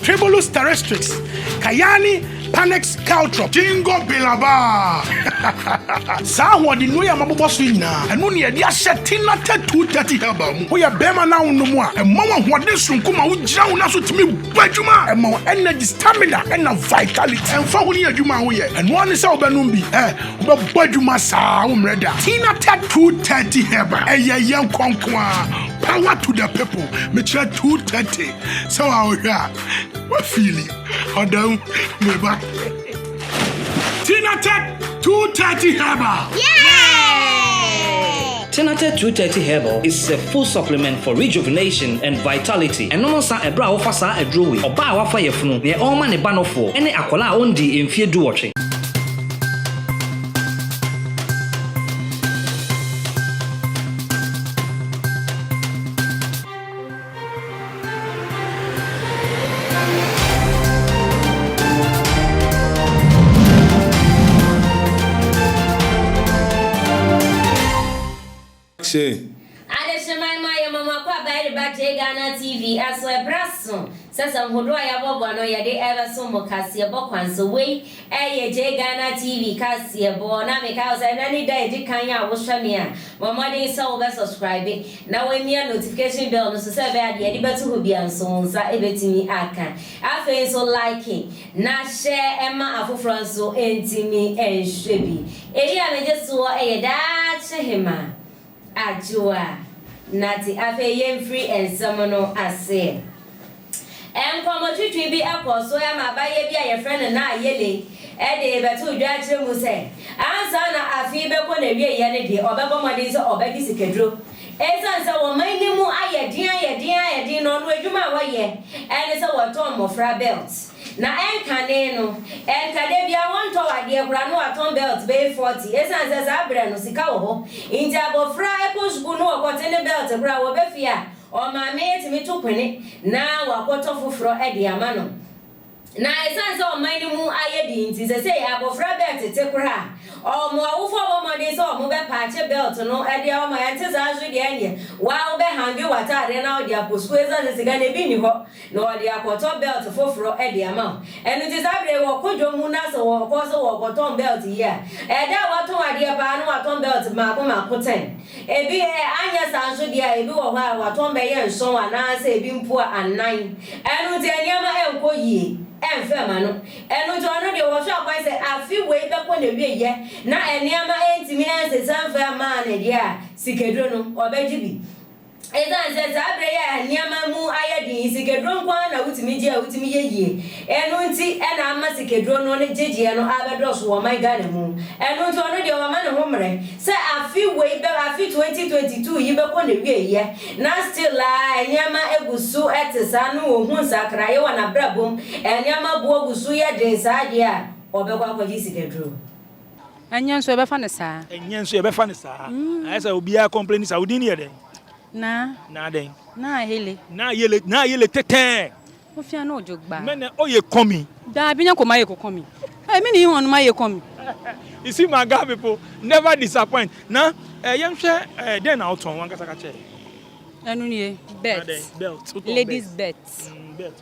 Tremulous Terrestrix, Cayani Panax Caltrop, Jingo Biloba. Saa ahoɔdennuro yi a mabobɔ so yi nyinaa, ɛno na yɛde ahyɛ Thinate 230 Herbal mu. Woyɛ barima na wonom a, ɛma wo ahoɔden soronko ma wogyina wo nan so tumi bɔ adwuma. Ɛma wo energy, stamina, ɛnna vitality. Ɛmfa ho ne adwuma a woyɛ, ɛno ara ne sɛ wobɛnom bi. Ɛ, wobɛbɔ adwuma saa, woremmrɛ da. Thinate 230 Herbal, ɛyɛ yɛn kɔ nko ara. Power to the people. Mekyerɛ 230. Sɛ wa wohwɛ a, wa fili ɔda mu me ba. Tinated 230 Herbal. Tinated 230 Herbal is a full supplement for rejuvenation and vitality. Ɛnom nsa ɛberɛ a wofa saa aduro wei. Ɔbaa a wafa yafunu, neɛ ɔrema ne ba nofoɔ, ɛne akwadaa a ɔndii mfeɛ duwɔtwe. Kyɛ. Adehyema yi ma yɛma mo akwaaba de ba J Ghana TV so ɛberɛ aso sɛ sɛ nhodoɔ a yɛabɔbɔ no yɛde ɛrebɛso mo kaseɛbɔ kwan so. Wei. Ɛɛ yɛgyae Ghana TV kaseɛbɔ na mekae wo sɛ ɛnɛ ne da a ɛdi kan a wohwɛ me a, bɔ mmɔden sɛ wobɛ subscribe na woamia notification bell no so sɛ ɛbɛyɛ a deɛ yɛde bɛto hɔ biara nso wo nsa bɛtumi aka. Afei nso like na hyɛ ma afoforɔ nso ntumi nhwɛ bi. Ɛyi a megye soɔ yɛ daakye hema. Adwo a, Nate afei yɛmfiri nsɛm no aseɛ. Nkɔmmɔtwitwi bi kɔɔ so ma abayewa bi a yɛfrɛ no Nayeli de bɛtoo dwa kyerɛ mu sɛ ansa na afe yi bɛkɔ n'awieeɛ no deɛ ɔbɛbɔ mmɔden sɛ ɔbɛgye sikaduro. Ɛsiane sɛ wɔn man no mu ayɛ den ayɛ den ayɛ den no, ɔno adwuma a ɔyɛ ne sɛ wɔtɔn mmɔfra bɛlt. Na ɛnkane no, ɛnka da biara wɔntɔw adeɛ koraa na wɔatɔn bɛlt bɛyɛ fɔti esiane sɛ saa berɛ no sika wɔ hɔ nti. Abɔfra kɔ sukuu na ɔkɔte ne bɛlt koraa a, wɔba fie a, ɔmaame tumi to pene na wakɔtɔ foforɔ de ama no. Na esiane sɛ ɔman no mu ayɛ den nti, seesei abɔfra bɛlt te koraa a, wɔn awofoɔ bɔ mmɔden sɛ wɔbɛpaakye bɛlt no de ama. Ɛnte saa nso deɛ, ɛnneɛ wo ara wobɛhange w'ataadeɛ na wode akɔ sukuu esiane sɛ sika no, ebi nni hɔ. na wɔde akɔtɔ bɛlt foforo de ama wo. Ɛno nti saa bere yi wɔko dwom mu na sɛ wɔkɔ so wɔkɔtɔn bɛlt yi a, ɛda a wɔatɔn adeɛ paa na wɔatɔn bɛlt mmaako mmaako ten. Ebi ɛ, anyɛ saa nso deɛ a, ebi wɔ hɔ a wɔatɔn bɛyɛ nson anaasɛ ebi mpo a anan. Ɛno nti nneɛma nkɔ yie, ɛmfa mma no. Ɛno nti ɔno deɛ wɔhwɛ kwan sɛ afe wei bɛkɔ n'awieeɛ na nneɛma ntumi nsesa mfa mmaa no deɛ a, sikaduro no, ɔbɛgye bi. Esiane sɛ saa bere yi a nneɛma mu ayɛ den yi sikaduro nko ara na wotumi gye a wotumi yɛ yie, ɛno nti na ama sikaduro no ne gyegyeɛ no abɛdɔɔso wɔ ɔman Ghana mu. Ɛno nti ɔno deɛ wama ne ho mmerɛ sɛ afe wei bɛ afe 2022 yi bɛkɔ n'awieeɛ na still ara nneɛma gu so te saa no ɔnhu nsakraeɛ wɔ n'abrabɔ mu, nneɛma boɔ gu so yɛ den saa deɛ a ɔbɛkɔ akɔgye sikaduro. Ɛnyɛ nso yɛbɛfa no saa. Ɛnyɛ nso yɛbɛfa no saa. Mm. Ayɛ sɛ obiara complain saa. Wodin no yɛ dɛn? Na. Na dɛn? Na ayele. Na ayele. Na ayele tɛtɛɛ. Wofia na ɔdwo gba. Mɛ na ɔyɛ kɔmi. Daabi nyɛ kɔma yɛ kɔkɔmi. Ɛ mi ni hɔn ma yɛ kɔmi. You see my guy people never disappoint. Na ɛ yɛn hwɛ ɛ dɛn na ɔtɔn wankasa kakyɛ. Ɛnu ni yɛ belt. Belt. Ladies belt. Mm, belt.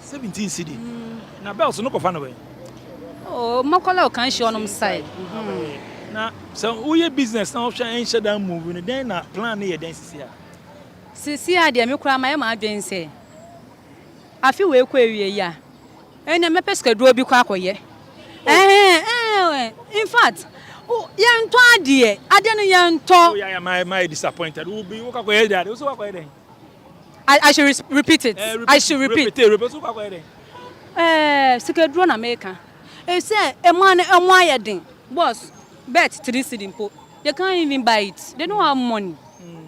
Seventeen cedi na bells no kɔfa no bɛn. Oh mɔkɔla ɔkan hyɛ ɔnom side. Mm-hmm. Na sɛ woyɛ business na ɔhwɛ ɛnhyɛ dan move no dɛn na plan no yɛ dɛn sisi a. Sisi a deɛ me koraa mayɛ maa adwen sɛ afi wei kɔ ewie yi a ɛnna mɛpɛ sikaduo bi kɔ akɔyɛ. Ɛhɛn oh. ɛhɛn eh, eh, eh, in fact yɛntɔ adeɛ adeɛ no yɛntɔ. Oh, yeah, yeah, my, my disappointed. Wo bi wo kakɔ yɛ dɛ ade wo so wakɔ yɛ dɛ. I I should re repeat it. Eh, repeat, I should repeat. Repeat, eh, repeat. So kwa kwa Eh, sikaduro na meka. Eh, sɛ emu ano emu ayɛ den. Boss, bet three cedi mpo. They can't even buy it. They don't have money. Mm.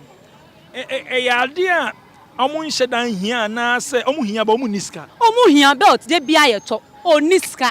Eh, eh, eh, ya dia. Omu nhyɛ dan hia na sɛ omu hia ba omu ni sika. Omu hia belt de bia yɛ tɔ. Oni sika.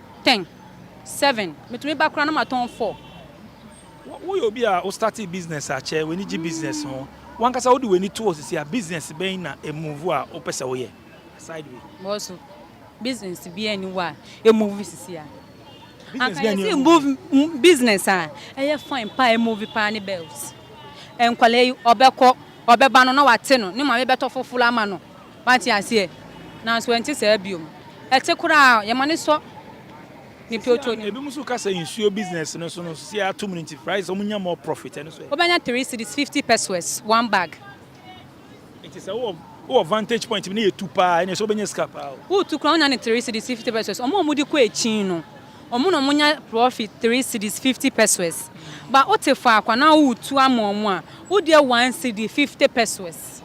Ten, seven, metumi ba koraa na matɔn four. Woyɛ obi a wo startee business akyɛ, w'ani gye business ho, w'ankasa wode w'ani to hɔ sisi a, business bɛn na e move a wopɛ sɛ woyɛ aside wei? Bɔso, business biara nni hɔ a e move sisi a. Anka yɛse move business a ɛyɛ fine paa a e move paa ne bells. Nkwadaa yi ɔbɛkɔ, ɔbɛba no na wate no, ne maame bɛtɔ foforo ama no. Wate aseɛ? Nanso ɛnte saa bio. Ɛte koraa, yɛma no sɔ ne pioto no. Ebinom nso ka sɛ nsuo business no so no, seesei atom no nti, prices, wɔnya more profit, ɛno nso ɛ? Wobɛnya three cedis, fifty pesoes, one bag. Nti sɛ wowɔ wowɔ vantage point bi na ɛyɛ tu paa ɛnneɛ, ɛsɛ sɛ wobɛnya sika paa o. Woretu koraa, wonya no three cedis, fifty pesoes. Wɔn a wɔde kɔ akyin no, wɔn na wɔnya profit three cedis, fifty pesoes. But wote faako anaa woretu ama wɔn a, wodeɛ one cedi, fifty pesoes.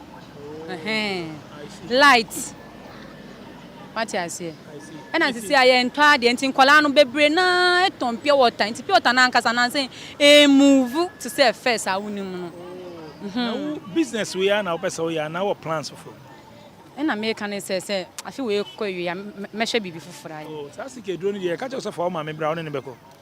Light. Wate aseɛ? Ɛna sisi a yɛntɔ adeɛ nti nkwadaa no bebree naa tɔn pure water nti pure water no ankasa no ansa emuvu te sɛ first a wonim no. Na wo business wei ara na wopɛ sɛ woyɛ anaa wɔ plans foforɔ? Ɛna meka no sɛ sɛ afe wei kɔ awie a mɛhwɛ biribi foforɔ ayɛ. Oh, saa sika aduro no deɛ yɛka kyerɛ wo sɛ fa wo maame bra wo ne no bɛkɔ.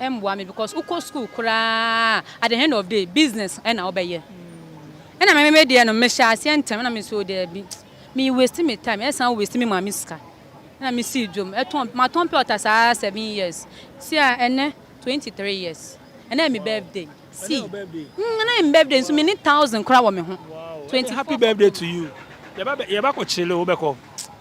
Ɛmboa me because wokɔ school koraa at the end of day business na wobɛyɛ ɛna me me deɛ no mehyɛ aseɛ ntɛm na me so daabi me waste me time ɛsan waste me maame sika ɛna me sii dwom ɛtɔn matɔn pɛ ɔta saa seven years si a ɛnɛ twenty three years ɛna me birthday si mm ɛna me birthday nso me ne thousand koraa wɔ me ho twenty happy birthday to you yɛba yɛba kɔ kyele wobɛkɔ.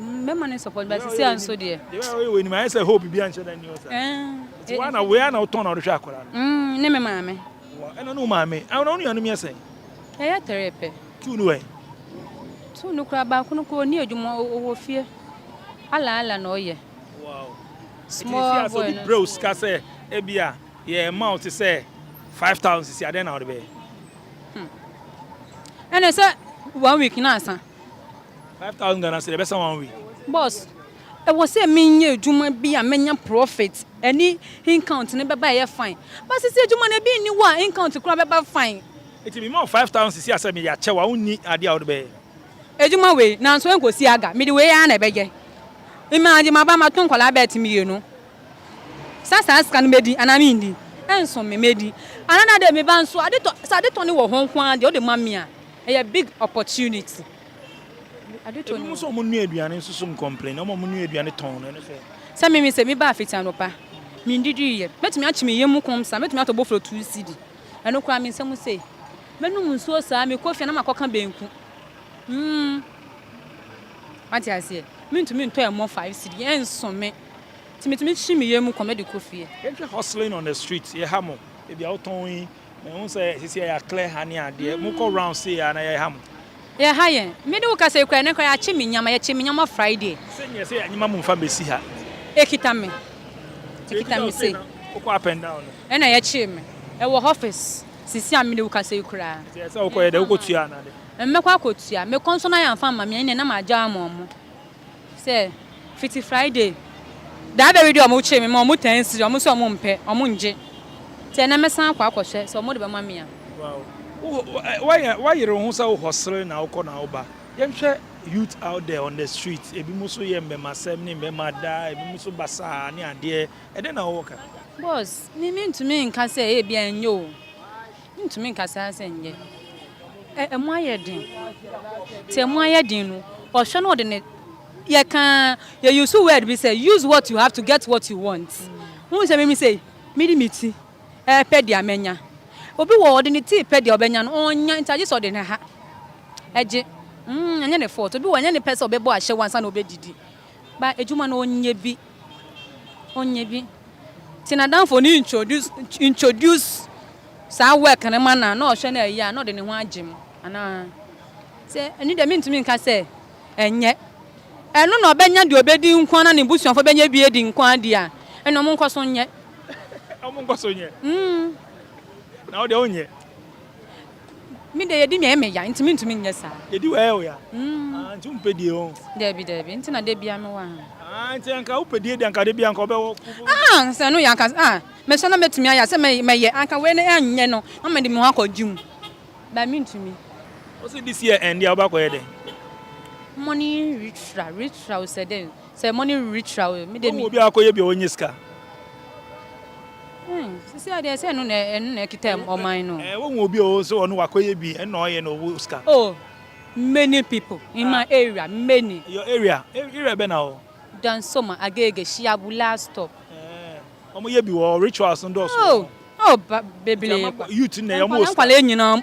Mɛma no support but sisi a nso deɛ. Deɛ bɛyɛ ɔyɛ wɔ anim ayɛ sɛ hope bi anhyɛ da nni hɔ saa. Nti wa na wei a na wotɔn na ɔrehwɛ akwadaa no. Mm, ne me maame. Wa ɛna ne wo maame. Ɛna wo nuanom yɛ sɛn? Ɛyɛ tɛrɛ pɛ. Tuu no wɛn? Tuu no koraa baako no koraa ɔni adwuma ɔwɔ fie. Ala ala na ɔyɛ. Wow. Small boy no. Brɛ wo sika sɛ ebi a yɛ ɛma wo te sɛ five thousand sisi adɛn na ɔde bɛyɛ? Hmm. Ɛna sɛ one week na asa. Five thousand Ghana cedi, ɛbɛsa one week. Boss, ɛwɔ sɛ me nyɛ adwuma bi a mɛnya profit, ɛne incount no bɛba a ɛyɛ fine. But sisi adwuma no ebi nni hɔ a incount koraa bɛba fine. Nti me ma wo five thousand sisi a sɛ meyɛ akyɛ wo a wo nni adeɛ a wode bɛyɛ. Adwuma wei, nanso ɛnkɔsi aga, mede wei ara na ɛbɛyɛ. Mmaa de maba mato nkwadaa bɛɛt mmienu. Sɛ saa sika no mɛdi anaa menni, ɛnso me, mɛdi. Another day meba nso, ade tɔ, sɛ ade tɔ no wɔ hɔ nko ara deɛ wode ma me a, ɛyɛ big opportunity. Ebi mo sɛ ɔmo nua aduane nso so nkɔmplen na ɔmo nua aduane tɔn no ɛno sɛ. Sɛ mimi sɛ mi baa fiti anɔpa mi ndidi yɛ mɛtumi akyi mi yɛmu kɔm saa mɛtumi atɔ boflɔ two cedi ɛno koraa mi nsɛm sei mɛnum nsuo saa mi kɔ fie na ma kɔ ka bɛnku mm wate aseɛ mi ntumi ntɔ ɛmɔ five cedi ɛnso me ti mi tumi kyi mi yɛmu kɔm ɛde kɔ fie. Yɛnhwɛ hustling on the street yɛ ha mo ebi a wotɔn yi. Mehu sɛ sisi a yɛ clear ha ne adeɛ. Mo kɔ round sei a na yɛ ha mo. Yɛ ha yɛn. Me ne wo kasa yi koraa ɛnɛ koraa yɛ akye me nyama, yɛ kye me nyama Friday. Sɛ nyɛ sɛ yɛ nyema mo nfa mbɛsi ha. Ekita me. Nti ekita wo sei na wo kɔ up and down no. Ɛna yɛ kye me. Ɛwɔ office sisi a me ne wo kasa yi koraa. Nti ɛsɛ wo kɔ yɛ dɛ wo kɔ tua anaa dɛ. Mɛkɔ akɔ tua. Me kɔ nso na yɛ nfa mma me ɛneɛ na ma gya ama ɔmo. Sɛ fiti Friday da bɛ wede ɔmo kyee me ma ɔmo taa siri ɔmo sɛ ɔmo mpɛ ɔmo ngye nti ɛnɛ mɛsan akɔ akɔ hwɛ sɛ ɔmo de bɛma me a. Wow wo yere wo ho sɛ wo hustle na wokɔ na wo ba yɛn hwɛ youth out there on the street ebi mo so yɛ mbɛmasɛm ne mbɛma daa ebi mo so basaa ne adeɛ ɛdɛn na wo wɔ ka. Boss me me ntumi nka sɛ ebia ɛnyɛ o. Ntumi nka saa sɛ nyɛ. Ɛ ɛmu ayɛ den. Sɛ ɛmu ayɛ den no, ɔhwɛ na ɔde ne yɛka yɛ use word bi sɛ use what you have to get what you want. Wohu sɛ mimi sei mede me ti ɛɛpɛ deɛ mɛnya. Obi wɔ hɔ ɔde ne ti repɛ deɛ ɔbɛnya no ɔnnya nti agye sɛ ɔde ne ha ɛgye. Mm ɛnyɛ ne fault. Obi wɔ hɔ ɛnyɛ ne pɛ sɛ ɔbɛbɔ ahyɛwo ansa na ɔbɛdidi. but adwuma no ɔnyɛ bi, ɔnyɛ bi. Nti n'adamfo no introduce introduce saa work no ma no a, na ɔhwɛ na ɛyɛ a, na ɔde ne ho agye mu anaa? Sɛ ɛno deɛ mentumi nka sɛ ɛnyɛ. Ɛno na ɔbɛnya deɛ ɔbɛdi nko ara na ne busuafoɔ bɛnya bi adi nko ara deɛ a, ɛnna wɔnkɔ so nyɛ. Wɔnkɔ so nyɛ? Mm. Na wo deɛ wonyɛ? Me de yedi me ɛyɛ me ya nti me ntumi nyɛ saa. Yedi wɔ ɛyɛ wo ya ah nti wo mpɛ die ho. Dabi dabi nti na da bia me wɔ ha. Ah nti anka wo pɛ die de anka da bia anka wo bɛ wɔ. Ah sɛ ɛno yɛ anka ah me sɛ na mɛ tumi ayɛ sɛ mɛ mɛ yɛ anka wei no ɛnyɛ no na mɛ de me ho akɔ gym but me ntumi. Wo se this year ɛnde a wo bɛ akɔ yɛ dɛn. Money ritra ritra o sɛ dɛn. Sɛ mo ne wuri tra o me de mi. Wɔn wɔ obi a akɔ yɛ bi a ɔnyɛ sika. Ɛɛ sisi adeɛ sɛ ɛno na ɛno na ɛkita ɔman no. Ɛɛ wɔn wɔ obi a ɔsɛ wɔn wakɔ yɛ bi ɛna ɔyɛ na ɔwɔ sika. Oh many people in my area many. Your area area bɛ na wɔ. Dansoma Agege Shiabu last stop. Ɛɛ wɔn yɛ bi wɔ rituals no dɔɔso wɔ hɔ. Oh oh bebree kwa. Youth na yɛ wɔn wɔ sika. Nkwadaa nyinaa.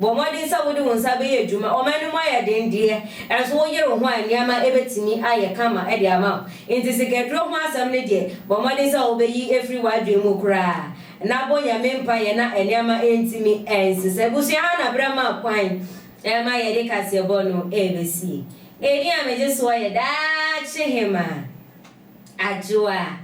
Bɔ mmɔden sɛ wode wo nsa bɛyɛ adwuma. Ɔman no mu ayɛ den deɛ, ɛnso woyere wo ho a, nneɛma bɛtumi ayɛ kama de ama wo. Enti sikaduro ho asɛm no deɛ, bɔ mmɔden sɛ wobɛyi afiri w'adwene mu koraa, na bɔ Nyame mpaeɛ na nneɛma ntumi nsesa. Abusua ha na berɛ ma kwan ma yɛde kaseɛbɔ no rebɛsie. Ɛdin a megye soɔ yɛ Daakye Hemaa. Adwoa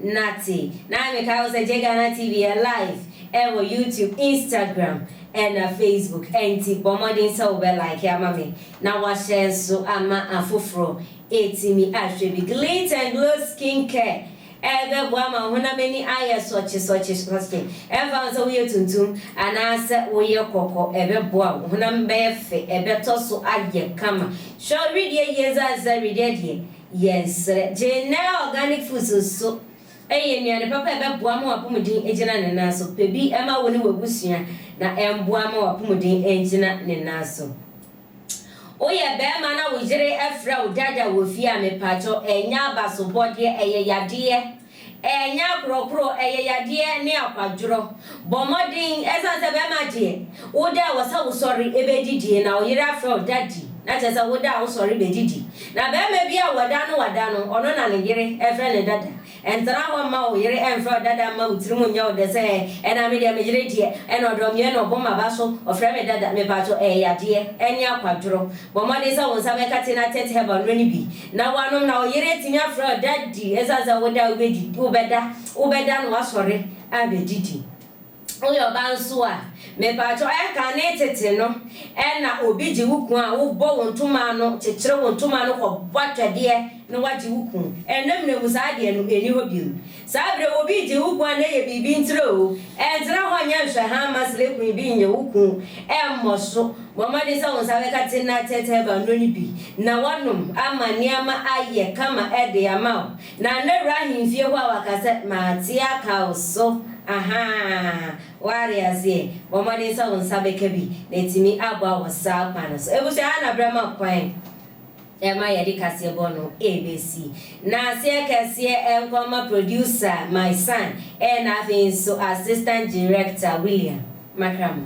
Nate. Na me kae wo sɛ Jegana TV yɛ live ɛwɔ YouTube, Instagram ɛna Facebook ɛnti bɔ mmɔden sɛ wo bɛ like ama me na wa share nso ama afoforɔ ɛtumi ahwɛ bi. Glint and Glow Skin Care ɛbɛboa ama wo honam ani ayɛ sɔkye sɔkye sɔkye ɛmfa ho sɛ wo yɛ tuntum anaa sɛ wo yɛ kɔkɔ ɛbɛboa wo honam bɛyɛ fɛ ɛbɛtɔ so ayɛ kama. Hwɛ wo wedeɛ yie zazaa wedeɛ deɛ. Yɛsrɛ. Gynnɛɛ Organic Foods nso yɛ nnuane papa a ɛbɛboa ama w'apomuden agyina ne nan so. Pɛ bi ma wo ne w'abusua na ɛmboa ma w'apomuden angyina ne nan so. Woyɛ bɛɛma na wo yere frɛ wo Dada wɔ fie a, mepaakyɛw ɛnyɛ abasobɔdeɛ, ɛyɛ yadeɛ. Ɛnyɛ akorɔkorɔ, ɛyɛ yadeɛ ne akwadworɔ. Bɔ mmɔden, ɛsiane sɛ bɛrima deɛ, wo da a ɛwɔ sɛ wosɔre bɛdidie, na wo yere afrɛ wo daddy, na kyerɛ sɛ wo da a wosɔre bɛdidi. Na barima bi a wada no wada no, ɔno na ne yere frɛ no dada. Ntena hɔ mma wo yere mfrɛ wo dada mma wo tirim nyɛ wo dɛ sɛ, ɛnna me deɛ me yere deɛ, ɛnna ɔdɔ me, ɛnna ɔbɔ m'aba so, ɔfrɛ me dada. Mepaatwo, ɛyɛ yadeɛ ne akwadworɔ. Bɔ mmɔden sɛ wo nsa bɛkate na tɛt herbal nnuro no bi. Na woanom na wo yere atumi afrɛ wo Daddy ɛsiane sɛ woda a wobɛdi, wobɛda, wobɛda na woasɔre abɛdidi. Woyɛ ɔbaa nso a, mepakyɛw ɛnkane tete no na obi gye wo kunu a wobɔ wo ntoma ano, kyekyere wo ntoma ano kɔbɔ atwɛdeɛ na woagye wo kunu. Ɛnnɛ mmerɛ mu saa adeɛ no ɛnni hɔ bio. Saa berɛ obi regye wo kun anaa yɛ biribi nkyerɛ o, ɛntena hɔ nyɛ nhwɛhaa mma srɛ kun bi nyɛ wo kun, ɛmmɔ so. Bɔ mmɔden sɛ wo nsa bɛka Tena Tete Herbal nnuro no bi na woanom ama nneɛma ayɛ kama de ama wo. Na Nnawura Ahemfie hɔ a waka sɛ mate aka wo so ahaa, woate aseɛ? Bɔ mmɔden sɛ wo nsa bɛka bi na atumi aboa wo saa kwan no so. Abusua ha na berɛ ma kwan. Ɛma yɛde kaseɛbɔ no ɛbɛsi n'aseɛ kɛseɛ ɛnkɔ mma producer my son ɛna afei nso assistant director William Makramo.